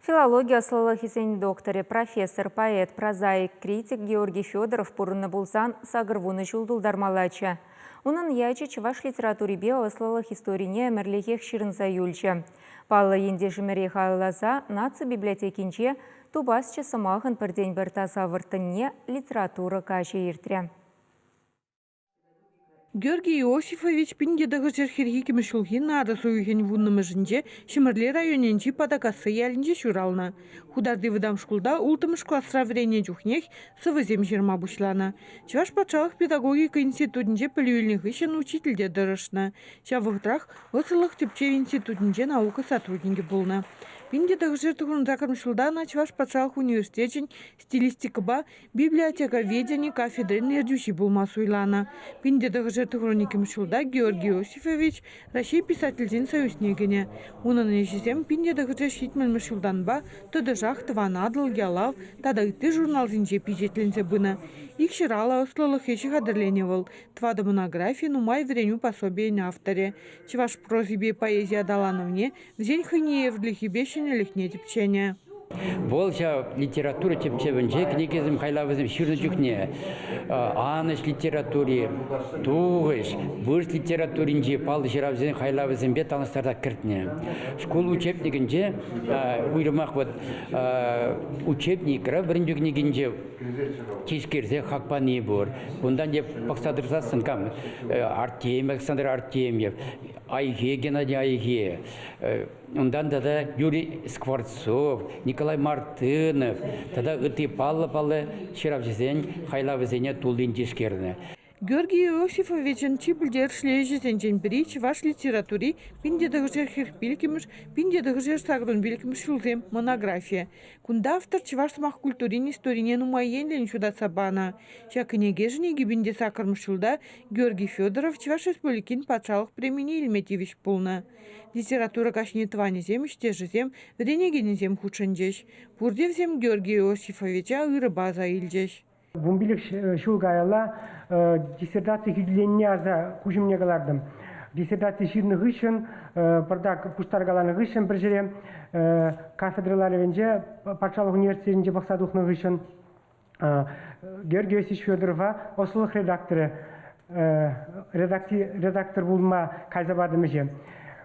Филологи ӑслӑлӑхӗсен докторӗ, профессор, поэт, прозаик, критик Георгий Федоров пурӑннӑ пулсан сакӑр вунӑ ҫул тултармаллаччӗ. Унӑн ячӗ чӑваш литературипе ӑслӑлӑх историне ӗмӗрлӗхех ҫырӑнса юлчӗ. Паллӑ ентешӗмӗре халалласа наци библиотекинче Тупасчӗ сӑмахӑн пӗртен-пӗр таса вӑрттӑнне литература каҫӗ иртрӗ. Георгий Иосифович пин тӑхӑрҫӗр хӗрхи ҫулхи нарӑс уйӑхӗн вуннӑмӗшӗнче Ҫӗмӗрле районӗнчи Патакасси ялӗнче ҫуралнӑ. Хутарти вӑтам шкулта улттӑмӗш класра вӗреннӗ чухнех сӑвӑсем ҫырма пуҫланӑ. Чӑваш патшалӑх педагогика институтӗнче пӗлӳ илнӗ хыҫҫӑн учительте тӑрӑшнӑ. Ҫав вӑхӑтрах Вӑрҫӑлӑх тӗпчев институтӗнче наука сотрудникӗ пулнӑ. пин тӑхӑрҫӗр тухӑҫ ҫулта ӑна Чӑваш патшалӑх университечӗн стилистикӑпа библиотековедени кафедрин ертӳҫи пулма суйланӑ. Пин тӑтӑхӑшӗ хроникӗм ҫулта Георгий Иосифович Раҫҫей Писательсен союзне кӗнӗ. Унӑн ӗҫӗсем пин тӑтӑхӑшӗ ҫитмӗлмӗш ҫултанпа тӑтӑшах Тӑван Атӑл, Ялав тата ытти журналсенче пичетленсе пынӑ. Ик ҫыраллӑ ӑслӑлӑх ӗҫӗ хатӗрленӗ вӑл. Тӑватӑ монографи, нумай вӗренӳ пособийӗн авторӗ. Чӑваш прозипе поэзи аталанӑвне Вӗсен хӑйне евӗрлӗхӗпе ҫӗнӗлӗхне тӗпченӗ. Вӑл ҫав литература тӗпчевӗнче кӗнекесем хайлавӗсем ҫырнӑ чухне анӑҫ литератури, тухӑҫ, вырӑс литературинчи паллӑ ҫыравсен хайлавӗсемпе танлаштарса кӗртнӗ. Шкул учебникӗнче уйрӑмах вот учебникра вӗрентӳ кӗнекинче тишкерсе хак пани пур. Унтан те пӑхса тӑрсассӑн кам Артемьев, Александр Артемьев, Айхи, Геннадий Айхи, унтан тата Юрий Скворцов, Николай Мартынов тата ытти паллӑ-паллӑ ҫыравҫӑсен хайлавӗсене туллин тишкернӗ. Георгий Иосифовичӑн чи пӗлтерӗшлӗ ӗҫӗсенчен пӗри чӑваш литератури пин тетӗшӗ хӗр пилӗкмӗш, пин тетӗшӗ сакӑрӑн пилӗкмӗш ҫулсем монографийӗ. Кунта автор чӑваш сӑмах культурин историне нумай енлӗн ҫутатса панӑ. Ҫак кӗнекешӗн икӗ пин те сакӑрмӗш ҫулта Георгий Федоров Чӑваш Республикин Патшалӑх премине илме тивӗҫ пулнӑ. Литература каҫне тӑванӗсем, ӗҫтешӗсем, вӗренекенӗсем хутшӑнчӗҫ. Пурте вӗсем Георгий Иосифовича ырӑпа аса илчӗҫ. Вунпилӗк ҫул каялла диссертаци хӳтӗленине аса куҫӑмне кӑлартӑм. Диссертаци ҫырнӑ хыҫҫӑн, пӑртак пуҫтаркаланӑ хыҫҫӑн пӗр ҫӗре кафедра ларӑвӗнче патшалӑх университетӗнче пӑхса тухнӑ хыҫҫӑн Георгий Васильевич Федорова ӑслӑлӑх редакторӗ редактор пулма кайса патӑм ӗҫе.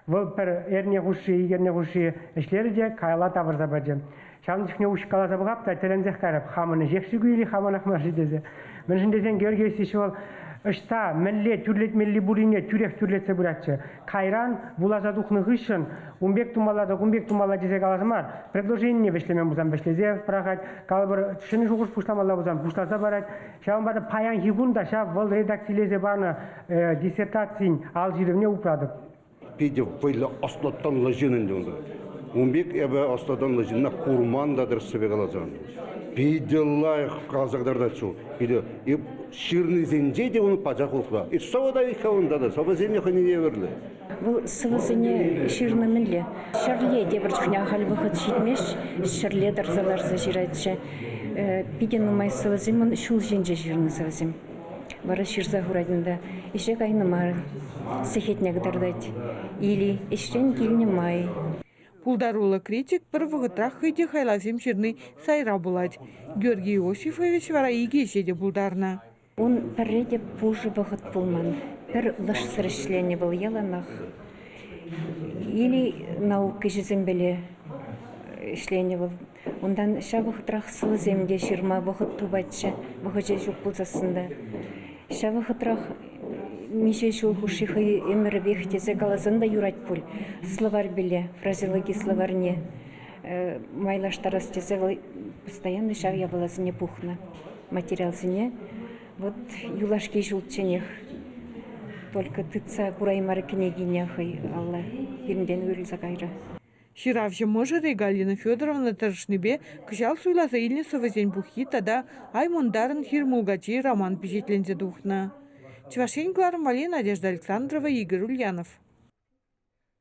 Вӑл пӗр эрне хушши, икӗ эрне хушши ӗҫлерӗ те каялла тавӑрса пачӗ. Ҫавӑн чухне уҫкаласа пӑхап та тӗлӗнсех кайрӑп, хамӑн ӗҫех-ши кӳйли, хамӑнах мар-ши тесе. Мӗншӗн тесен Георгий Васильевич вӑл ӑҫта, мӗнле тӳрлетмелли пуррине тӳрех тӳрлетсе пыратчӗ. Кайран вуласа тухнӑ хыҫҫӑн ун пек тумалла та кун пек тумалла тесе калас мар, предложение вӗҫлемен пулсан вӗҫлесе пӑрахать, калӑпӑр ҫӗнӗ шухӑш пуҫламалла пулсан пуҫласа парать. Ҫавӑнпа та паянхи кун та ҫав вӑл редакцилесе панӑ э, диссертацин ал ҫырӑвне упратӑп. Питӗ вӑйлӑ ӑслӑтӑнлӑ ҫын ӗнтӗ унта. Ун пек эпӗ ӑслӑтӑнлӑ ҫынна курман та тӗрӗссипе каласан. Питӗ лайӑх каласа кӑтартать ҫул. Питӗ ҫырнисенче те ун пачах усла. И сова да их хавунта да, сӑвӑсене хӑйне евӗрлӗ. Вӑл сӑвӑсене ҫырнӑ мӗнле? Ҫӗрле тепӗр чухне ахаль вӑхӑт ҫитмест, ҫӗрле тӑрса-тӑрса ҫыратчӗ. Питӗ нумай сӑвӑсем ун ҫул ҫинче ҫырнӑ сӑвӑсем. Вара ҫырса хурать унта. Ӗҫе кайнӑ мар, сехетне кӑтартать. Или ӗҫрен килнӗ май Пултаруллӑ критик пӗр вӑхӑтрах хӑй те хайлавсем ҫырни сайра пулать. Георгий Иосифович вара икӗ ӗҫе те пултарнӑ. Ун пӗрре те пушӑ вӑхӑт пулман. Пӗр лӑшсӑр ӗҫленӗ вӑл яланах. Или наук ӗҫӗсемпеле ӗҫленӗ вӑл Унтан ҫав вӑхӑтрах сӑвӑсем те ҫырма вӑхӑт тупатчӗ. Вӑхӑчӗ ҫук пулсассӑн та. Ҫав вӑхӑтрах миҫе ҫул хушши хӑй ӗмӗрӗпех тесе каласан та юрать пуль словарьпеле, фразеологи словарьне майлаштарас тесе вӑл постоянно ҫав япаласене пухнӑ материалсене. Вот юлашки ҫулчченех только тытса кураймарӗ кӗнекине хӑй алла, пирӗнтен уйрӑлса кайрӗ. Ҫыравҫӑ мӑшӑрӗ Галина Федоровна тӑрӑшнипе кӑҫал суйласа илнӗ сӑвӑсен пуххи тата «Ай мунтарӑн хир мулкачи» роман пичетленсе тухнӑ. Чӑваш Ен кӑларӑмвӗ Надежда Александрова, Игорь Ульянов.